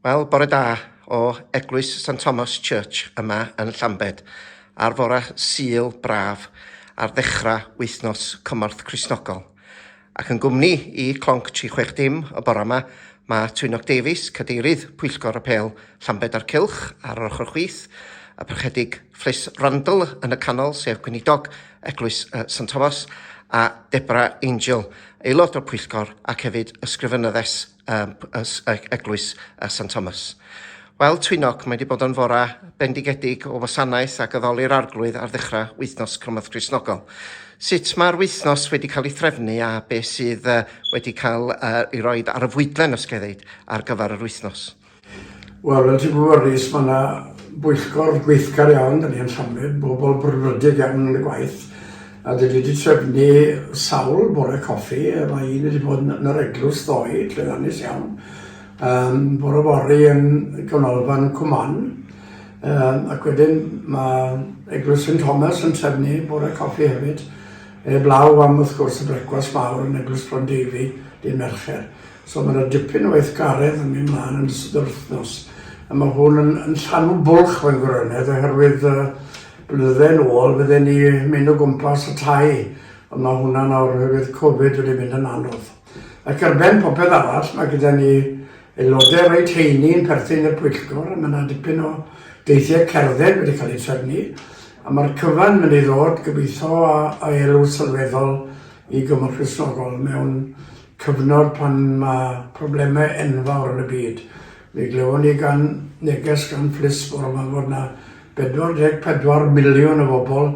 Wel, bore da o Eglwys St Thomas Church yma yn Llambed, ar fore Sul braf ar ddechrau wythnos cymorth Cristnogol. Ac yn gwmni i Clonc 360 y bore yma, mae Twynog Davies, Cadeirydd Pwyllgor Apêl Llambed a'r Cylch ar yr ochr chwith, y Parchedig Fris Randall yn y canol, sef Gweinidog Eglwys St Thomas, a Debra Angel, aelod o'r pwyllgor ac hefyd ysgrifenyddes Eglwys St Thomas. Wel, Twynog, mae wedi bod yn fora bendigedig o wasanaeth ac addoli'r arglwydd ar ddechrau wythnos Cymorth Gristnogol. Sut mae'r wythnos wedi cael ei threfnu a beth sydd wedi cael ei roi ar y fwydlen, os gael ei ddeud, ar gyfer yr wythnos? Wel, fel ti'n gwybod, Rhys, mae yna bwyllgor gweithgar iawn da ni yn Llanbed, bobl brwdfrydig iawn yn y gwaith, a dwi wedi trefnu sawl bore coffi, mae un wedi bod yn yr eglwys ddoe, llwyddiannus iawn, um, bore fory yn Gynolfan Cwman, um, ac wedyn mae eglwys St Thomas yn trefnu bore coffi hefyd, e blaw am wrth gwrs y brecwas mawr yn eglwys Bron Davy, dyn Mercher. So mae 'na dipyn o weithgaredd yn mynd mlaen yn ystod yr wythnos, a mae hwn yn, yn llanw bwlch fy ngwrynedd oherwydd uh, blynydde yn ôl fydden ni mynd o gwmpas y tai, ond mae hwnna nawr oherwydd Covid wedi mynd yn anodd. Ac ar ben popeth arall, mae gyda ni aelodau reit heini yn perthyn i'r pwyllgor, a mae yna dipyn o deithiau cerdded wedi cael eu trefnu, a mae'r cyfan mynd i ddod gobeithio a, a elw sylweddol i Gymru Cristnogol mewn cyfnod pan mae problemau enfawr yn y byd. Mi glywon ni gan neges gan Fliss bore 'ma fod 'na 44 miliwn o bobl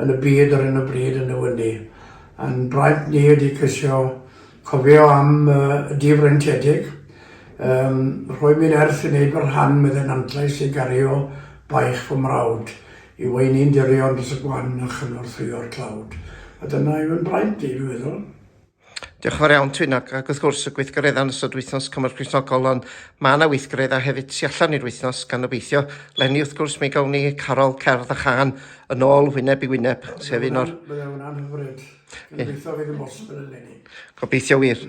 yn y byd ar 'yn o bryd yn y wyni. A'n braint ni ydi ceisio cofio am y difreintiedig, um, rhoi mi nerth i wneud fy rhan, medde Nantlais, i gario baich fy mrawd, i weini'n dirion dros y gwan a chynorthwyo'r tlawd. A dyna yw 'yn braint i, dwi'n meddwl. Diolch yn fawr iawn, Twynog. Ac wrth gwrs, y gweithgareddau yn ystod wythnos cymorth Cristnogol, ond mae yna weithgareddau hefyd tu allan i'r wythnos, gan obeithio. Lenni, wrth gwrs, mi gawn ni Carol, Cerdd a Chan yn ôl wyneb i wyneb, sef un o'r... Byddai hwnna'n hyfryd. Gobeithio fydd yn bosibl yn lenni. Gobeithio wir.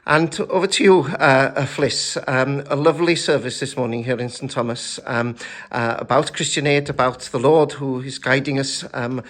And over to you, uh, uh, Fliss. Um, a lovely service this morning here in St Thomas um, uh, about Christian Aid, about the Lord who is guiding us um,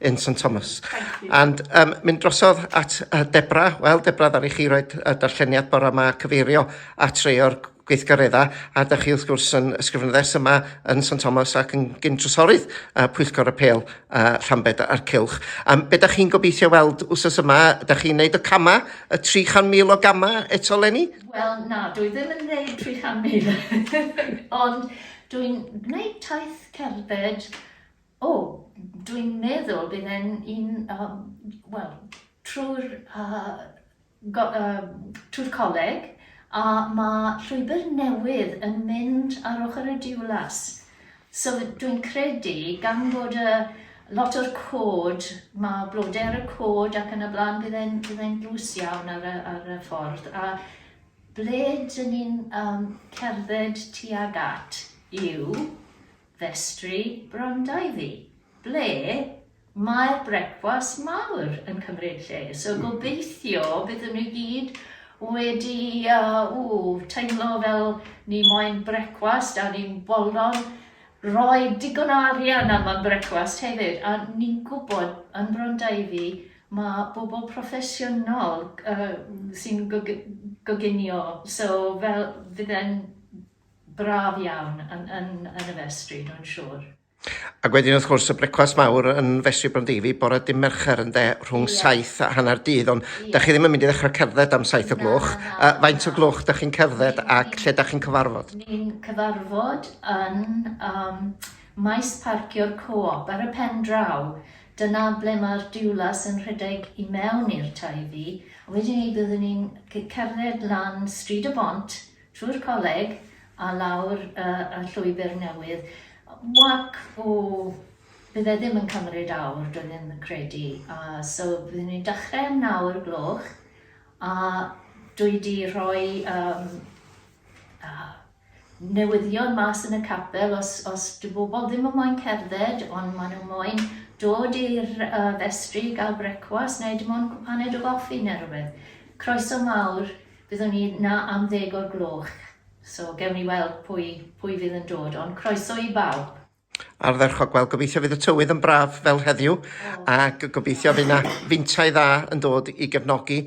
in St Thomas. And um, mynd drosodd at uh, Debra. Wel, Debra, ddari chi roi uh, darlleniad bore yma cyfeirio at rei o'r gweithgareddau a da chi wrth gwrs yn ysgrifenyddes yma yn St Thomas ac yn gyn trysorydd uh, Pwyllgor y Pêl uh, Rhambed a'r Cilch. Um, be da chi'n gobeithio weld wsos yma? Da chi'n neud y cama, y 300,000 o gama eto, Lenny? Wel, na, dwi ddim yn neud 300,000. Ond dwi'n gwneud taith cerdded O, dwi'n meddwl bydd e'n un, yym, wel, trwy'r yy go- yym trwy'r coleg a ma' llwybr newydd yn mynd ar ochr y Diwlas. So dwi'n credu gan bod yy lot o'r cod, ma' blode ar y cod ac yn y bla'n bydd e'n bydd e'n dlws iawn ar y ar y ffordd a ble 'dyn ni'n yym cerdded tuag at yw Festri bron Dyddi, ble mae'r brecwast mawr yn cymryd lle, so gobeithio byddwn ni gyd wedi teimlo fel ni moyn brecwast a ni'n bolon rhoi digon o arian am y brecwast hefyd, a ni'n gwybod yn Bron Dyddi mae bobl proffesiynol sy'n goginio, so fel fydden braf iawn yn, yn, yn y festri, dwi'n siŵr. Ac wedyn wrth gwrs y brecwast mawr yn fesur Brondeifi bore dim Mercher yn de rhwng yeah. 7 a hanner dydd ond yeah. da chi ddim yn mynd i ddechrau cerdded am 7 o gloch. Na, na, na, uh, faint na. o gloch da chi'n cerdded ni, ac lle da chi'n cyfarfod? Ni'n cyfarfod yn um, maes parcio'r co-op ar y pen draw. Dyna ble mae'r diwlas yn rhedeg i mewn i'r taifi. Wedyn ni byddwn ni'n cerdded lan Stryd y Bont Trwy'r coleg a lawr y llwybr newydd. Walk o... bydd e ddim yn cymryd awr, dwi ddim yn credu. A so byddwn ni'n dechrau am naw o'r gloch a dwi 'di rhoi um, uh, newyddion mas yn y capel os, os dy bobl ddim yn moyn cerdded ond maen nhw moyn dod i'r uh, festri i gael brecwas neu dim ond cwpaned o goffi neu rhywbeth. Croeso mawr Byddwn ni 'na am ddeg o'r gloch, so gewn ni weld pwy, pwy fydd yn dod, ond croeso i bawb. Ardderchog, wel gobeithio fydd y tywydd yn braf fel heddiw ac gobeithio fydd yna fintau dda yn dod i gefnogi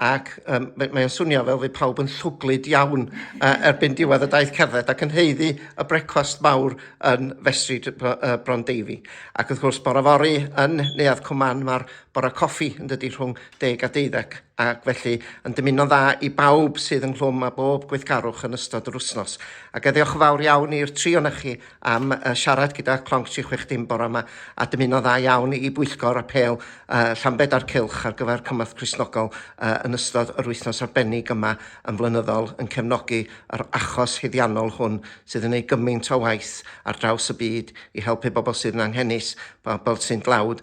ac um, mae'n swnio fel fydd pawb yn llwglyd iawn uh, erbyn diwedd y daith cerdded ac yn heiddi y brecwast mawr yn Festri uh, Bron Deifi. Ac wrth gwrs, bore fori yn Neuadd Cwman mae'r Bore coffi, yn dydy, rhwng deg a deuddeg, ac felly yn dymuno'n dda i bawb sydd ynghlwm â bob gweithgarwch yn ystod yr wythnos. Ac eddiwch yn fawr iawn i'r tri o'na chi am uh, siarad gyda Clonc 360 bore yma a dymuno'n dda iawn i bwyllgor a pel uh, Llambed a'r Cylch ar gyfer cymorth Crisnogol uh, yn ystod yr wythnos arbennig yma yn flynyddol yn cefnogi yr achos huddiannol hwn sydd yn ei gymaint o waith ar draws y byd i helpu bobl sydd yn anghenus, bobl sy'n dlawd